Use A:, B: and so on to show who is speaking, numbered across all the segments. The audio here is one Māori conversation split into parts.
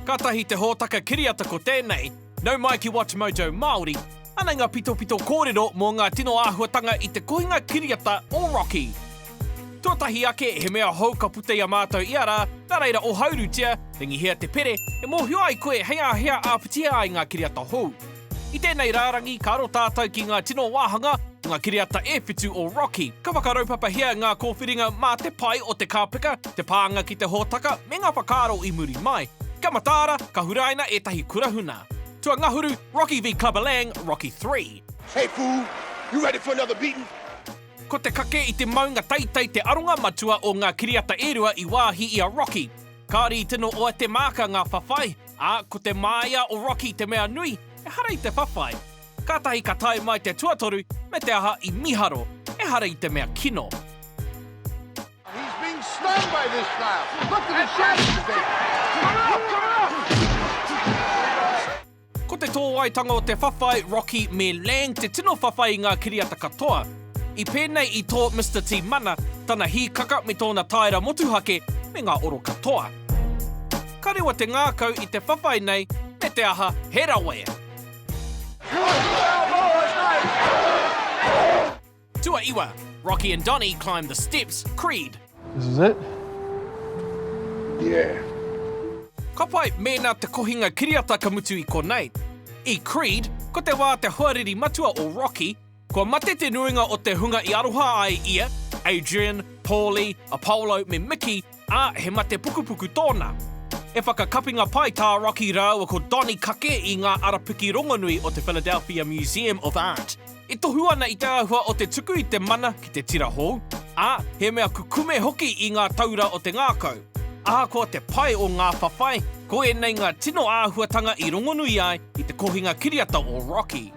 A: Katahi te hōtaka kiriata ko tēnei, Nau mai ki WatchMojo Māori, anei ngā pitopito kōrero mō ngā tino āhuatanga i te kohinga kiriata o Rocky. Tuatahi ake, he mea hou ka puta i a mātou ia rā, nā reira ohaurutia, ringihia te pere e mōhio ai koe hei āhea āpitihe ai ngā kiriata hou. I tēnei rārangi, ka aro tātou ki ngā tino wāhanga o ngā kiriata e whitu o Rocky. Ka whakaraupapahia ngā kōwhiringa mā te pae o te kāpeka, te pānga ki te hōtaka, me ngā whakaaro i muri mai. Kia mataara, ka huraina ētahi kurahuna. Tuangahuru, Rocky v Clubberlang, Rocky Three. Hey fool, you ready for another beating? Ko te kake i te maunga teitei te aronga matua o ngā kiriata e rua i wāhi i a Rocky. Kāore i tino oa te māka ngā whawhai, Ā, ko te māia o Rocky te mea nui, ehara i te whawhai. Kātahi ka tae mai te tuatoru me te aha i miharo, ehara i te mea kino. He's being stung by this snail. Look at his shaggy face. Ko te tōwaitanga o te whawhai, Rocky me Lang te tino whawhai i ngā kiriata katoa. I pēnei i tō Mister Tiimana, tana hīkaka me tōna taera motuhake me ngā oro katoa. Ka rewa te ngākau i te whawhai nei me te aha he rawa e. Tuaiwa, Rocky and Donny climb the steps, Creed. This is it? Yeah. Ka pai, mēnā te kohinga kiriata ka mutu i konei. I Creed, ko te wā te hoariri matua o Rocky, Kua mate te nuinga o te hunga i aroha ai ia, Adrian, Paulie, Apollo me Mickey, ā, he mate pukupuku tōna. He whakakapinga pai tā Rocky rāua ko Donny kake i ngā arapiki rongonui o te Philadelphia Museum of Art. E tohu ana i te āhua o te tuku i te mana ki te tira hou, ā, he mea kukume hoki i ngā taura o te ngākau. Ahakoa te pai o ngā whawhai, ko ēnei ngā tino āhuatanga i rongonui ai i te kohinga kiriata o Rocky.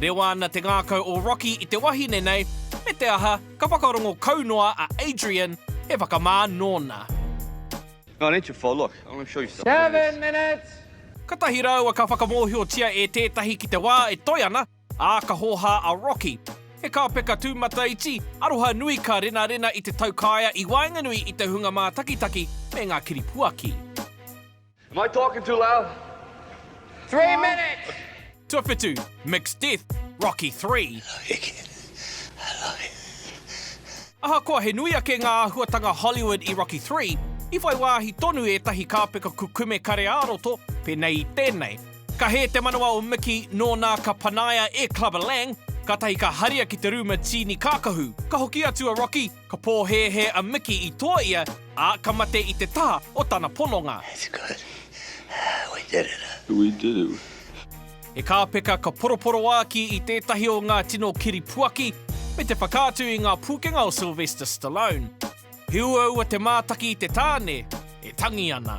A: Rewa ana te ngākau o Rocky i te wahine nei, me te aha, ka whakarongo kau noa a Adrian, he whakamā nōna. Katahi rāua ka whakamōhiotia e tētahi ki te wā e toe ana, ā, ka hōhā a Rocky. He kāpeka tūmataiti, aroha nui ka renarena i te taukaea i waenganui i te hunga mātakitaki me ngā kiripuaki. Am I talking too loud? Three minutes! Tuawhitu, Mixed Death, Rocky Three. Ahakoa he nui ake ngā āhuatanga Hollywood i Rocky Three, i whai wāhi tonu ētahi kāpeka kukume kare-ā-roto, pēnei i tēnei, ka hē te manawa o Mickey nōnā ka panaia e Clubber Lang, kātahi ka haria ki te rūma tīni kākahu, ka hoki atu a Rocky, Ka pōhēhē a Miki i toa ia, ā, ka mate i te taha o tana pononga. That's good. Ah, we did it. We did it. He kāpeka ka poroporoāki i tētahi o ngā tino kiripuaki, me te whakaatu i ngā pūkenga o Sylvester Stallone. He uaua te mātaki i te tāne e tangi ana.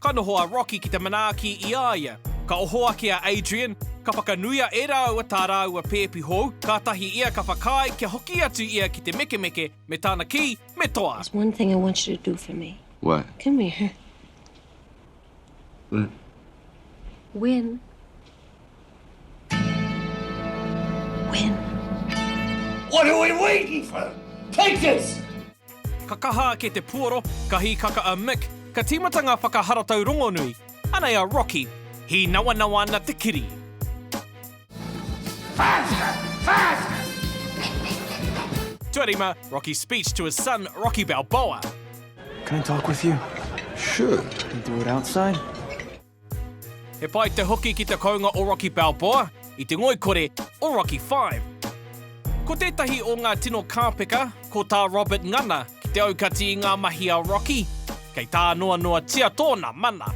A: Ka noho a Rocky ki te manaaki i a ia. Ka oho ake a Adrian, ka whakanuia e rāua tā rāua pēpi hou, kātahi ia ka whakaae kia hoki atu ia ki te mekemeke me tana kī, Me toa! There's one thing I want you to do for me. What? Come here. What? When When? What are we waiting for? Take us! Ka kaha ake te puoro, ka hīkaka a Mick, ka tīmata ngā whakaharatau rongonui. Anei a Rocky, hīnawanawa ana te kiri. Faster! Faster! Tuarima, Rocky's speech to his son, Rocky Balboa. Can I talk with you? Sure. Can we do it outside? He pai te hoki ki te kounga o Rocky Balboa i te ngoikore o Rocky Five. Ko tētahi o ngā tino kāpeka, ko tā Robert ngana ki te aukati i ngā mahi a Rocky, kei tā noa noatia tōna mana.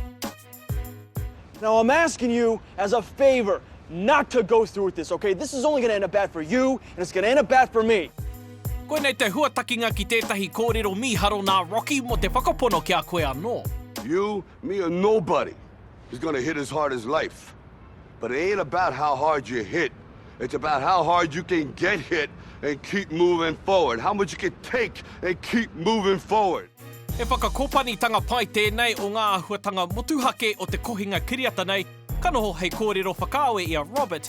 A: Now I'm asking you as a favour not to go through with this, okay? This is only going to end up bad for you and it's going to end up bad for me. Koinei te huatakinga ki tētahi kōrero mīharo nā Rocky mō te whakapono ki a koe anō. You Me a nobody is going to hit as hard as life but it ain't about how hard you hit it's about how hard you can get hit and keep moving forward how much you can take and keep moving forward. He whakakopanitanga pai tēnei o ngā āhuatanga motuhake o te kohinga kiriata nei, ka noho hei kōrero whakaawe i a Robert,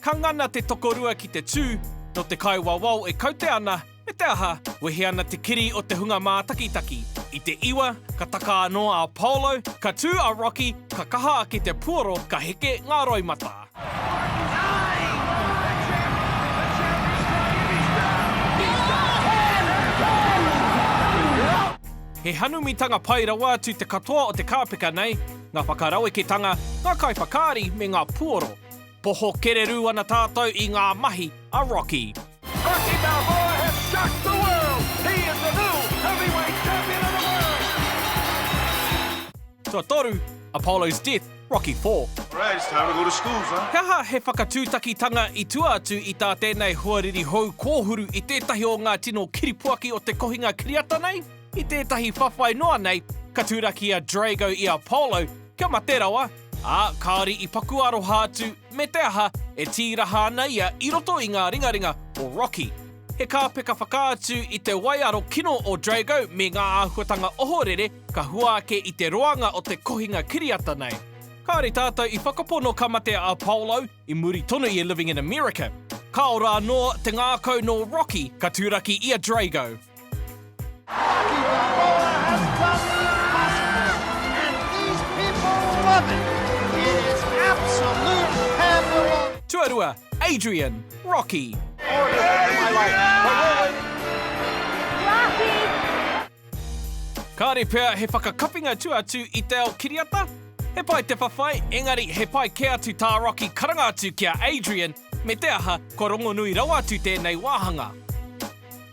A: Ka ngana te tokorua ki te tū, nō te kaiwawao e kaute ana, me te aha, wehe ana te kiri o te hunga mātakitaki. I te iwa, ka taka anō a Apollo, ka tū a Rocky, ka kaha ake te puoro, ka heke ngā roimata. He hanumitanga pai rawa atu te katoa o te kāpeka nei, ngā whakaraweketanga, ngā kaiwhakaari me ngā puoro. Poho kererū ana tātou i ngā mahi a Rocky. Rocky Balboa has shocked the world! He is the new heavyweight champion of the world! Tuatoru, Apollo's Death, Rocky Four. Alright, it's time to go to school, son. He aha he whakatūtakitanga i tua atu i tā tēnei hoariri hou kōhuru i tētahi o ngā tino kiripuaki o te kohinga kiriata nei? I tētahi whawhai noa nei, ka turaki a Drago i Apollo kia mate rawa, Ā, kāore i paku aroha atu, me te aha, e tīraha ana ia i roto i ngā ringaringa o Rocky. He kāpeka whakaatu i te waiaro kino o Drago me ngā āhuatanga ohorere ka hua ake i te roanga o te kohinga kiriata nei. Kāore tātou i whakapono ka mate a Apollo i muri tonu i Living in America. Ka ora anō te ngākau nō Rocky ka turaki i a Drago. Tuarua, Adrian, Rocky. Kāre pea he whakakapinga tua atu i te ao kiriata? He pai te whawhai, engari he pai kē atu tā Rocky karanga atu ki a Adrian, me te aha, kua rongonui rawa atu tēnei wāhanga.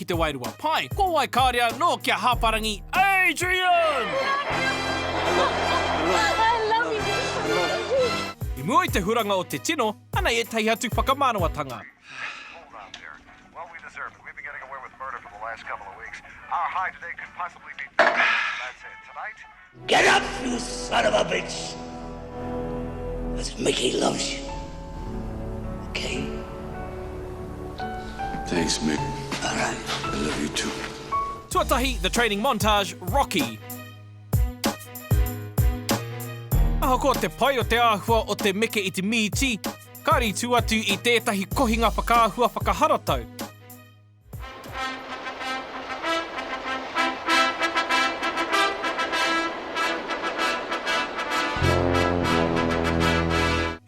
A: ki te wairua pae, ko wai kāore anō kia hāparangi Adrian! I mua i te huranga o te tino, anei ētahi atu whakamārawatanga. Get up you son of a bitch Cause Mickey loves you Ok Thanks Mick Alright I love you too Tuatahi The Training Montage, Rocky Ahakoa te pai o te āhua o te meke i te mīti, kāre i tū atu i tētahi kohinga whakaahua whakaharatau.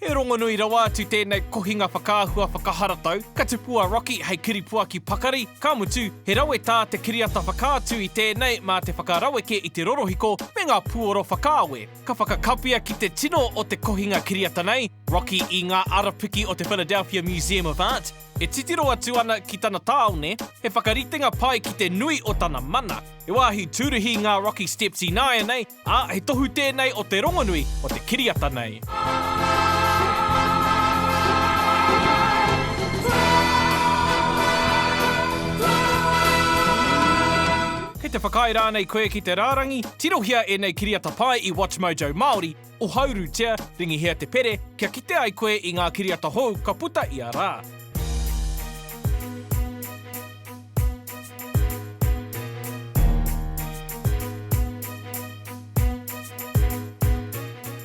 A: He rongonui rawa atu tēnei kohinga whakaahua whakaharatau, ka tupu a Rocky hei kiripuaki pakari, ka mutu, he rawe tā te kiriata whakaatu i tēnei mā te whakaraweke i te rorohiko me ngā puoro whakaawe. Ka whakakapia ki te tino o te kohinga kiriata nei, Rocky i ngā arapiki o te Philadelphia Museum of Art, E titiro atu ana ki tana tāone, he whakaritenga pai ki te nui o tana mana. He wāhi tūruhi ngā Rocky Steps ināianei, ā, he tohu tēnei o te rongonui o te kiriata nei. Kei te whakaae rānei koe ki te rārangi? Tirohia ēnei kiriata pai i WatchMojo Māori. Ohauru tia, ringihia te pere, kia kite ai koe i ngā kiriata hou ka puta ia rā.